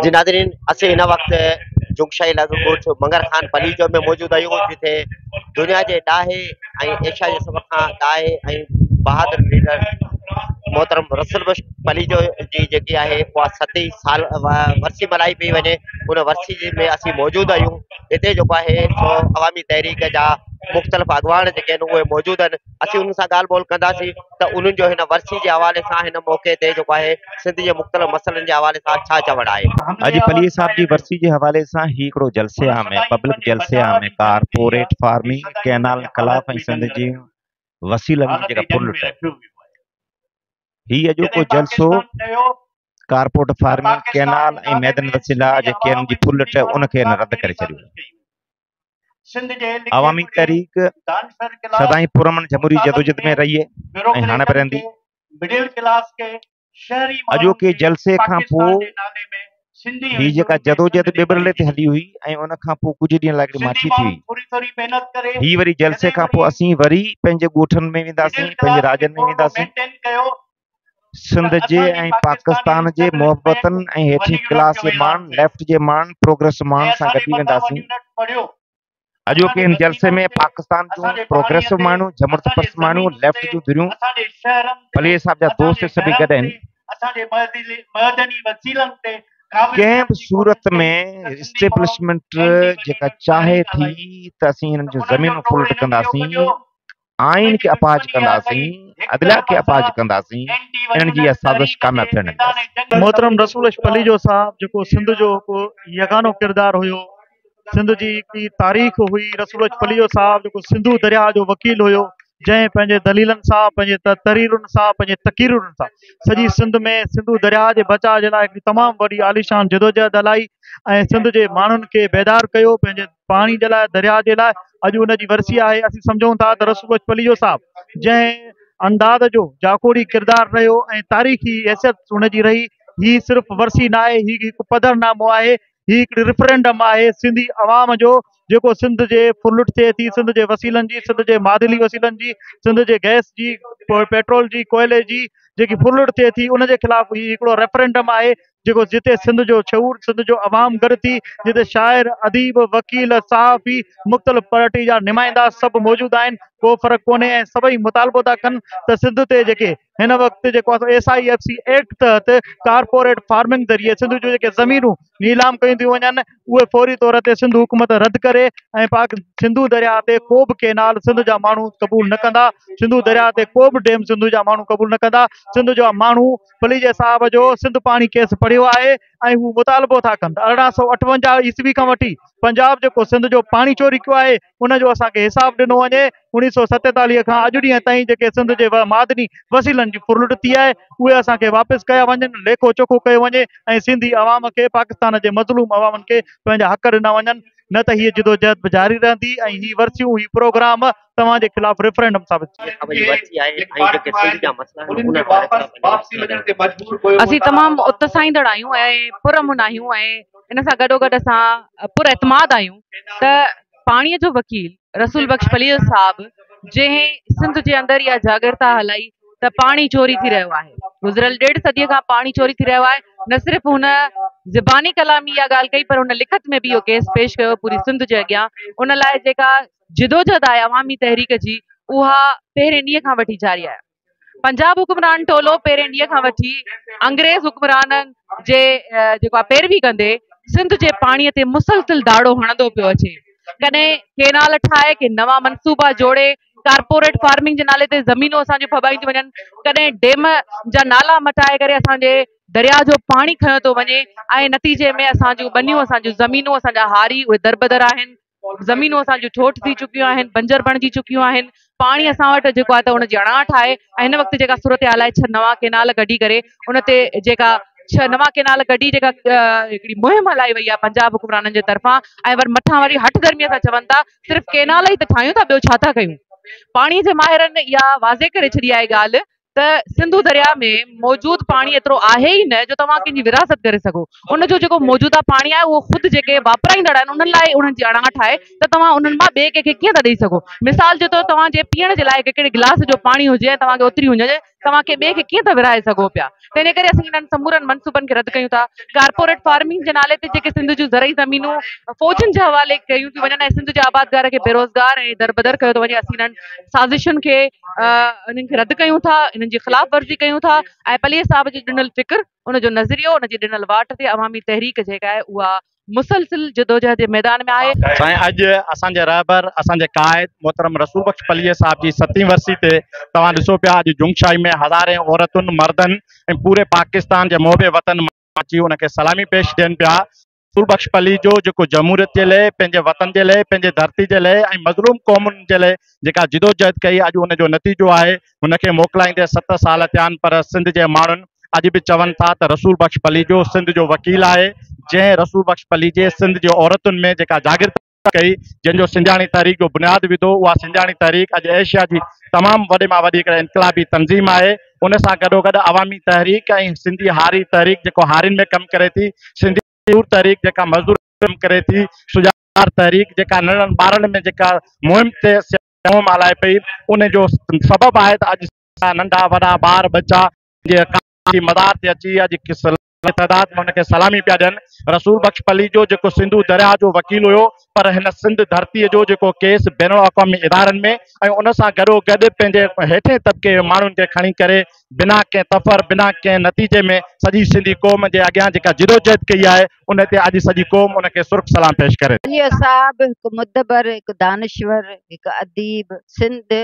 جي ناظرين اسين هن وقت جوگ شاهي علائقي ڳوٺ منگر خان پليجو ۾ موجود آهيون جتي دنيا جي ڏاهي ۽ ايشيا جي سڀ کان ڏاهي ۽ بهادر ليڊر محترم رسل بخش پليجو جي جيڪي آهي اها ستي سال ورسي ملهائي پئي وڃي ان ورسي جي ۾ اسين موجود آهيون هتي جيڪو آهي سو عوامي تحريڪ جا مختلف اڳواڻ جيڪي آهن اهي موجود آهن اسين انهن سان ڳالهه ٻولهه ڪنداسين ته انهن جو هن ورسي جي حوالي سان هن موقعي تي جيڪو آهي سنڌ جي مختلف مسئلن جي حوالي سان ڇا چوڻ آهي. اڄ پليجي صاحب جي ورسي جي حوالي سان هي هڪڙو جلسي عام ۽ پبلڪ جلسي عام ۽ ڪارپوريٽ فارمنگ، ڪئنال انقلاب ۽ سنڌ جي وسيلن جي جيڪا ڦر لٽ آهي. هي اڄوڪو جلسو ڪارپوريٽ فارمنگ، ڪئنال ۽ معدن وسيلا جيڪي انهن جي ڦر لٽ آهي ان کي هن رد ڪري ڇڏيو. عوامي تحريڪ سدائين پرامن جمهوري جدوجھد ۾ رهي ۽ هاڻي به رهندي. اڄوڪي جلسي کان پوء هي جيڪا جدوجھد ٻٻرلي تي هلي هئي ۽ ان کان پوء ڪجهه ڏينهن لاء هڪڙي ماٺي ٿي هئي. هي وري جلسي کان پوء اسين وري پنهنجي ڳوٺن ۾ وينداسين، پنهنجي راڄن ۾ وينداسين. سنڌ جي ۽ پاڪستان جي محبتن ۽ هيٺين ڪلاس جي ماڻهن، ليفٽ جي ماڻهن، پروگريس ماڻهن سان گڏجي وينداسين. اڄوڪي هن جلسي ۾ پاڪستان جون پروگريسو ماڻهيون، جمهورت پرست ماڻهيون، ليفٽ جون ڌريون، پليجي صاحب جا دوست سڀئي گڏ آهن. ڪنهن به صورت ۾ اسٽيبلشمينٽ جيڪا چاهي ٿي ته اسين هنن جون زمينون پلٽ ڪنداسين، آئين کي اپاهج ڪنداسين، عدليه کي اپاهج ڪنداسين، انهن جي اها سازش ڪانه ٿيڻ ڏينداسين. محترم رسول عشق پليجو صاحب جيڪو سنڌ جو هڪ يگانو ڪردار هيو، سنڌ جي هڪڙي تاريخ هئي، رسول عشق پليجو صاحب جيڪو سنڌو درياهه جو وڪيل هيو، جنهن پنهنجي دليلن سان، پنهنجي تحريرن سان، پنهنجي تقريرن سان سڄي سنڌ ۾ سنڌو درياهه جي بچاء جي لاء هڪڙي تمام وڏي عاليشان جدوجهد هلائي ۽ سنڌ جي ماڻهن کي بيدار ڪيو، پنهنجي پاڻي جي لاء درياء جي لاء اڄ ان جي ورسي آهي اسين سمجهون ٿا ته رسول بخش پليجو صاحب جنهن انداز جو جاکوڙي ڪردار رهيو ۽ تاريخي حيثيت ان جي رهي هي صرف ورسي ناهي هي هڪ پڌر نامو آهي هي هڪڙي ريفرنڊم آهي سنڌي عوام جو جيڪو سنڌ جي ڦرلٽ ٿئي ٿي سنڌ جي وسيلن جي سنڌ جي معادلي وسيلن جي سنڌ جي گئس جي پيٽرول جي ڪوئلي جي جيڪي ڦرلٽ ٿئي ٿي ان جي خلاف هي هڪڙو ريفرنڊم آهي جيڪو جتي سنڌ جو شعور، سنڌ جو عوام گڏ ٿي، جتي شاعر، اديب، وڪيل، صحافي، مختلف پارٽي جا نمائندا سڀ موجود آهن، ڪو فرق ڪونهي ۽ سڀئي مطالبو ٿا ڪن ته سنڌ تي جيڪي هن وقت جيڪو آسان S I F C act تحت ڪارپوريٽ فارمنگ ذريعي سنڌ جون جيڪي زمينون نيلام ڪيون ٿيون وڃن اهي فوري طور تي سنڌ حڪومت رد ڪري ۽ پاڪ سنڌو درياء تي ڪو به ڪينال سنڌ جا ماڻهو قبول نه ڪندا سنڌو درياء تي ڪو به ڊيم سنڌو جا ماڻهو قبول نه ڪندا سنڌ جا ماڻهو پليجي صاحب جو سنڌ پاڻي ڪيس پڙهيو آهي ۽ هو مطالبو ٿا ڪن ته ارڙهن سؤ اٺونجاهه عيسوي کان وٺي پنجاب جيڪو سنڌ جو پاڻي چوري ڪيو آهي ان جو اسان کي حساب ڏنو وڃي اوڻيهه سؤ ستيتاليهه کان اڄ ڏينهن تائين جيڪي سنڌ جي معدني وسيلن جي ڦرلٽ ٿي آهي اهي اسان کي واپس ڪيا وڃن ليکو چوکو ڪيو وڃي ۽ سنڌي عوام کي پاڪستان جي مظلوم عوامن کي پنهنجا حق ڏنا وڃن نه ته هيء جدوجهد به جاري رهندي ۽ هي ورسيون هي پروگرام توهان جي خلاف ريفرنڊم ثابت ٿئي. اسين تمام اتساهيندڙ آهيون ۽ پرامن آهيون ۽ ان سان گڏوگڏ اسان پر اعتماد آهيون ته پاڻي جو وڪيل رسول بخش پليجو صاحب جنهن سنڌ جي اندر اها جاڳرتا هلائي ته پاڻي چوري ٿي رهيو آهي گذريل ڏيڍ صدي کان پاڻي چوري ٿي رهيو آهي نه صرف هن زباني ڪلامي اها ڳالهه ڪئي پر هن لکت ۾ به اهو ڪيس پيش ڪيو پوري سنڌ جي اڳيان ان لاء جيڪا جدوجھد آهي عوامي تحريڪ جي اها پهرين ڏينهن کان وٺي جاري آهي پنجاب حڪمران ٽولو پهرين ڏينهن کان وٺي انگريز حڪمرانن جي جيڪو آهي پيروي ڪندي سنڌ جي پاڻي تي مسلسل داڙو هڻندو پيو اچي ڪڏهن ڪينال ٺاهي ڪي نوان منصوبا جوڙي ڪارپوريٽ فارمنگ جي نالي تي زمينون اسان جون ڦٻائيون ٿيون وڃن ڪڏهن ڊيم جا نالا مٽائي ڪري اسان جي درياء جو پاڻي کنيو ٿو وڃي ۽ نتيجي ۾ اسان جون ٻنيون اسان جون زمينون اسان جا هاري اهي دربدر آهن زمينون اسان جون ٺوٺ ٿي چڪيون آهن، بنجر بڻجي چڪيون آهن، پاڻي اسان وٽ جيڪو آهي ته ان جي اڻاٺ آهي ۽ هن وقت جيڪا صورتحال آهي ڇهه نوان ڪينال ڪڍي ڪري ان تي جيڪا ڇهه نوان ڪينال ڪڍي جيڪا هڪڙي مهم هلائي وئي آهي پنجاب حڪمرانن جي طرفان ۽ ور مٿان وري هٺ درميء سان چون ٿا صرف ڪينال ئي ته ٺاهيون ٿا ٻيو ڇا ٿا ڪيون پاڻي جي ماهرن اها واضح ڪري ڇڏي آهي ڳالهه ته سنڌو درياهه ۾ موجود پاڻي ايترو آهي ئي نه جو توهان ڪنهن جي ورهاست ڪري سگهو. ان جو جيڪو موجوده پاڻي آهي اهو خود جيڪي واپرائيندڙ آهن انهن لاء ئي انهن جي اڻاٺ آهي ته توهان انهن مان ٻئي ڪنهن کي ڪيئن ٿا ڏئي سگهو. مثال جي طور توهان جي پيئڻ جي لاء هڪڙي گلاس جو پاڻي هجي ۽ توهان کي اوتري هجي ته توهان ڪنهن ٻئي کي ڪيئن ٿا ورهائي سگهو پيا. تنهن ڪري اسين انهن سمورن منصوبن کي رد ڪيون ٿا. ڪارپوريٽ فارمنگ جي نالي تي جيڪي سنڌ جون زرعي زمينون فوجن جي حوالي ڪيون ٿيون وڃن ۽ سنڌ جي آبادگار کي بيروزگار ۽ دربدر ڪيو ٿو وڃي اسين انهن سازشن کي انهن کي رد ڪيون ٿا انهن جي خلاف ورزي ڪيون ٿا ۽ پليجي صاحب جي ڏنل فڪر ان جو نظريو ان جي ڏنل واٽ تي عوامي تحريڪ جيڪا آهي اها مسلسل جدوجهد جي ميدان ۾ آهي. سائين اڄ اسان جي رهبر اسان جي قائد محترم رسول بخش پليجي صاحب جي ستين ورسي تي توهان ڏسو پيا اڄ جنگ شاهي ۾ هزارين عورتن مردن ۽ پوري پاڪستان جي محب وطن اچي ان کي سلامي پيش ڏين پيا رسول بخش پليجو جيڪو جمهوريت جي لئه پنهنجي وطن جي لئه پنهنجي ڌرتي جي لئه ۽ مظلوم قومن جي لئه جيڪا جدوجهد ڪئي اڄ ان جو نتيجو آهي هن کي موڪلائيندي ست سال ٿيا آهن پر سنڌ جي ماڻهن اڄ به چون ٿا ته رسول بخش پليجو سنڌ جو وڪيل آهي جنهن رسول بخش پليجي سنڌ جي عورتن ۾ جيڪا جاگرت ڪئي، جنهن جو سنڌياڻي تحريڪ جو بنياد وڌو، اها سنڌياڻي تحريڪ اڄ ايشيا جي تمام وڏي مان وڏي هڪڙي انقلابي تنظيم آهي، ان سان گڏوگڏ عوامي تحريڪ ۽ سنڌي هاري تحريڪ جيڪو هارين ۾ ڪم ڪري ٿي، سنڌي مزدور تحريڪ جيڪا مزدورن ۾ ڪم ڪري ٿي، سجاڳار تحريڪ جيڪا ننڍڙن ٻارڙن ۾ جيڪا مهم تي سياسي مهم هلائي پئي، ان جو سبب آهي ته اڄ ننڍا وڏا ٻار ٻچا جي ڪام جي مدار تي اچي اڄ وڏي تعداد ۾ هن کي سلامي پيا ڏين. رسول بخش پليجو جيڪو سنڌو درياهه جو وڪيل هيو پر هن سنڌ ڌرتيء جو جيڪو ڪيس بين الاقوامي ادارن ۾ ۽ ان سان گڏو گڏ پنهنجي هيٺين طبقي جي ماڻهن کي کڻي ڪري بنا ڪنهن تفر بنا ڪنهن نتيجي ۾ سڄي سنڌي قوم جي اڳيان جيڪا جدوجهد ڪئي آهي ان تي اڄ سڄي قوم ان کي سرخ سلام پيش ڪري ٿي. پليجو صاحب هڪ مدبر، هڪ دانشور، هڪ اديب، سنڌ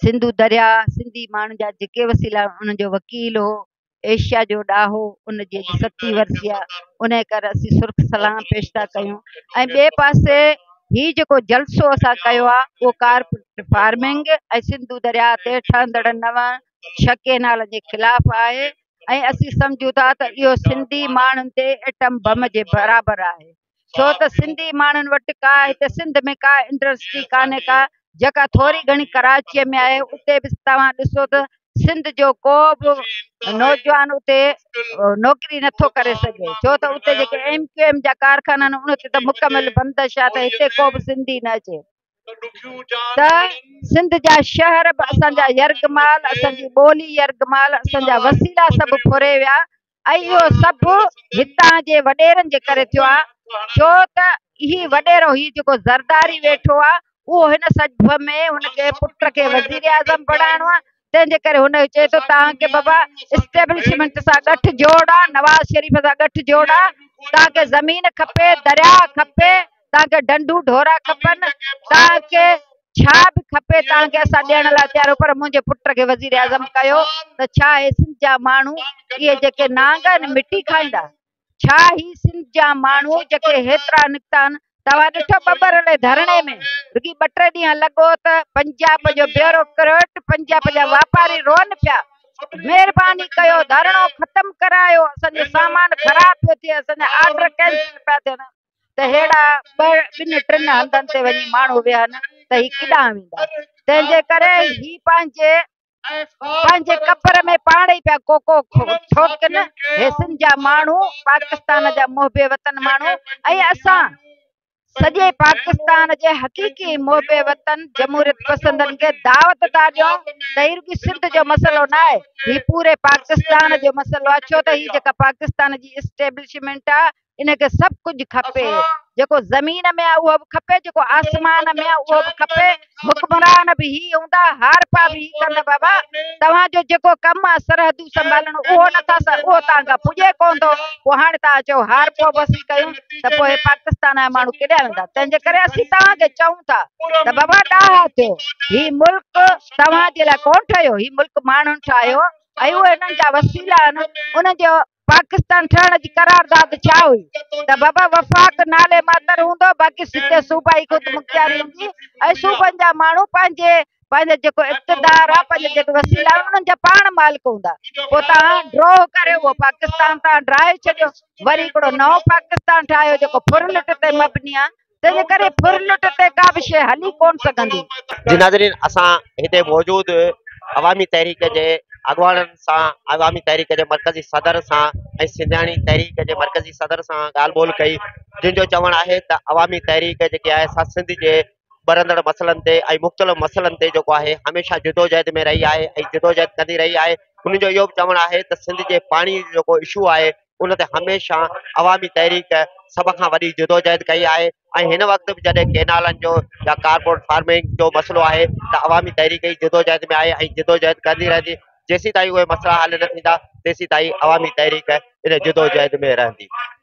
سنڌو درياء سنڌي ماڻهن جا جيڪي وسيلا انهن جو وڪيل هو ايشيا جو ڏاهو ان جي ستي ورسي آ ان ڪري اسين سرخ سلام پيش ٿا ڪيون ۽ ٻئي پاسي هي جيڪو جلسو اسان ڪيو آ اهو ڪار فارمنگ ۽ سنڌو درياء تي ٺهندڙ نو ڇهه ڪينال جي خلاف آهي ۽ اسين سمجهون ٿا ته اهو سنڌي ماڻهن تي ايٽم بم جي برابر آهي ڇو ته سنڌي ماڻهن وٽ ڪا هتي سنڌ ۾ ڪا انڊسٽري ڪانهي ڪا جيڪا ٿوري گهڻي ڪراچيء ۾ آهي اتي به توهان ڏسو ته سنڌ جو ڪو به نوجوان اتي نوڪري نٿو ڪري سگهي ڇو ته اتي جيڪي ايم ڪيو ايم جا ڪارخانا آهن ان تي ته مڪمل بندش آهي ته هتي ڪو به سنڌي نه اچي ته سنڌ جا شهر به اسان جا يرغمال اسان جي ٻولي يرغمال اسان جا وسيلا سڀ ڦري ويا ۽ اهو سڀ هتان جي وڏيرن جي ڪري ٿيو آهي ڇو ته هي وڏيرو هي جيڪو زرداري ويٺو آهي اهو هن سجب ۾ هن کي پٽ کي وزير اعظم بڻائڻو آهي تنهن جي ڪري هن چئي ٿو تان کي بابا اسٽيبلشمنٽ سان ڳٺ جوڙ آهي نواز شريف سان ڳٺ جوڙ آهي تان کي زمين کپي درياء کپي توهان کي ڊنڊون ڍورا کپن توهان کي ڇا به کپي توهان کي اسان ڏيڻ لاء تيار آهيون پر منهنجي پٽ کي وزيراعظم ڪيو ته ڇا هي سنڌ جا ماڻهو اهي جيڪي نانگ آهن مٽي کائيندا ڇا هي سنڌ جا ماڻهو جيڪي هيترا نڪتا آهن توهان ڏٺو ٻٻر لي ڌرڻي ۾ رڳي ٻه ٽي ڏينهن لڳو ته پنجاب جو بيورو ڪرٽ پنجاب جا واپاري رون پيا مهرباني ڪيو ڌرڻو ختم ڪرايو اسان جو سامان خراب پيو ٿئي اسان جا آرڊر ڪينسل پيا ٿين ته ههڙا ٻن ٽن هنڌن تي وڃي ماڻهو ويهن ته هي ڪيڏانهن ويندا تنهن جي ڪري هي پنهنجي پنهنجي قبر ۾ پاڻ ئي پيا ڪوڪو ٺوڪن هي سنڌ جا ماڻهو پاڪستان جا محب وطن ماڻهو ۽ اسان سڄي پاڪستان جي حقيقي محب وطن جمهوريت پسندن کي دعوت ٿا ڏيون ته هي رڳي سنڌ جو مسئلو نه آهي هي پوري پاڪستان جو مسئلو آهي ڇو ته هي جيڪا پاڪستان جي اسٽيبلشمنٽ آهي ان کي سڀ ڪجهه کپي جيڪو زمين ۾ آهي اهو به کپي جيڪو آسمان ۾ آهي اهو به کپي حڪمران به هي هوندا هارپا به هي ڪندا بابا توهان جو جيڪو ڪم آهي سرحدون سنڀالڻ اهو نٿا اهو توهان کان پڄي ڪونه ٿو پوء هاڻي توهان چئو هارپو به اسين ڪيون ته پوء پاڪستان جا ماڻهو ڪيڏا ويندا تنهن جي ڪري اسين توهان کي چئون ٿا ته بابا ڏاها ٿيو هي ملڪ توهان جي لاء ڪونه ٺهيو هي ملڪ ماڻهن ٺاهيو اهو هنن جا وسيلا آهن ان جو پاڪستان ٺهڻ جي قرارداد ڇا هئي ته بابا وفاق نالي ماتر هوندو باقي سڌي صوبائي خودمختياري هوندي ۽ صوبن جا ماڻهو پنهنجي پنهنجو جيڪو اقتدار آهي پنهنجو جيڪو وسيلا آهن انهن جا پاڻ مالڪ هوندا پوء تان ڊرو ڪري اهو پاڪستان تان ڊراهي ڇڏيو وري هڪڙو نئون پاڪستان ٺاهيو جيڪو ڦرلٽ تي مبني آهي تنهنجي ڪري ڦرلٽ تي ڪا به شيء هلي ڪونه سگهندي. جي ناظرين اسان هتي موجود عوامي تحريڪ جي اڳواڻن سان عوامي تحريڪ جي مرڪزي صدر سان ۽ سنڌياڻي تحريڪ جي مرڪزي صدر سان ڳالهه ٻولهه ڪئي جن جو چوڻ آهي ته عوامي تحريڪ جيڪي آهي سا سنڌ جي ٻرندڙ مسئلن تي ۽ مختلف مسئلن تي جيڪو آهي هميشه جدوجهد ۾ رهي آهي ۽ جدوجهد ڪندي رهي آهي انهن جو اهو به چوڻ آهي ته سنڌ جي پاڻي جيڪو اشو آهي ان تي هميشه عوامي تحريڪ سڀ کان وڏي جدوجهد ڪئي آهي ۽ هن وقت به جڏهن ڪينالن جو يا ڪارپوريٽ فارمنگ جو مسئلو آهي ته عوامي تحريڪ ئي جدوجهد ۾ آهي ۽ جدوجهد ڪندي رهندي جيسيتائين اهي مسئلا حل نه ٿيندا تيسيتائين عوامي تحريڪ ان جدوجهد ۾ رهندي.